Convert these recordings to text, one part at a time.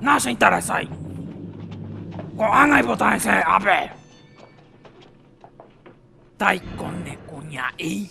Nacheinteresái. Ko'ág̃a ipota hese ápe. Taiko ne kuña'i.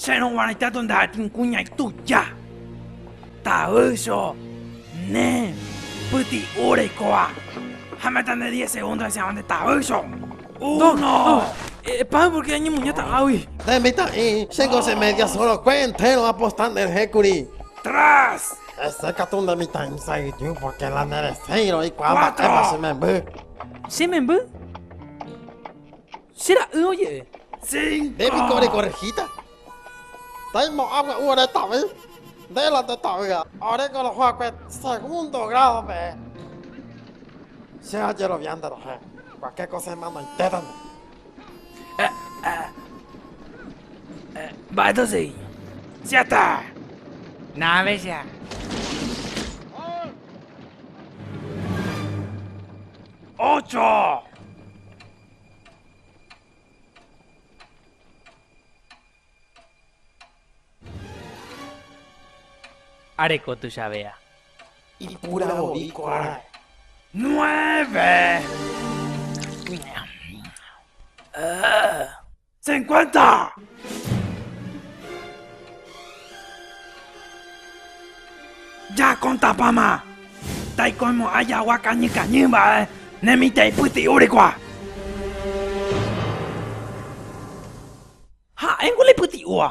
Chérõ guaraita tonda'atĩ kuña ituja, tavýcho, ne, pyti'u reikóva, ha meta nde diez segundo hesegua nde tavýcho. Uno. Epáy pórke añemuñáta águi. Nde mitã'i, che goce media sorokue entéro aposta nderehékuri. Tres. Hese katu nde mitã'i sa'yju pórke la neresẽirõ eikuaa mba'épa che memby. Che memby? Che ra'y oje'e. Nde piko orekorrehíta? Tei mo'ã gua'u ore tavy, nde la nde ta'ýa. Ore ko roho'akue segundo grádo peẽ, che ajerovia nde rohẽ, kuake ko semanoitéta nde. Mba'éta sei. Siete. Nave che ha. Ocho. Areko tuichavea. Ipuravovi ko ára. Nueve. Cincuenta. Jakontapáma taikoimo'ã jagua kañy kañy mba'e ne mitã ipyti'úrigua. Ha'éngo la ipyti'úva.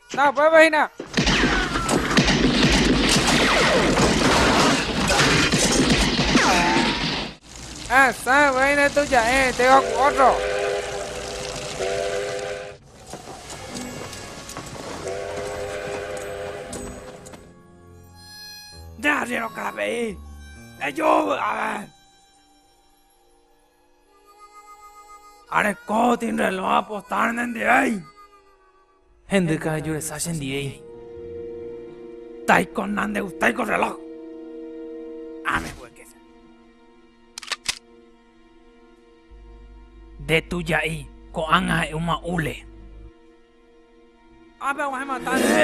Na upépe hína. Asã upéi ne tuja'e itéva ku ótro. Nde arriéro karape'i. Eju vy'ápe. Areko tinrelõ apostar nendivéi. Hendyka ejuresa che ndiéi. Taiko nandegustái ko reloj. Ame hueque che. Nde tuja'i ko'ág̃a ha'e'úma hule. Ápe aguahẽ matáne.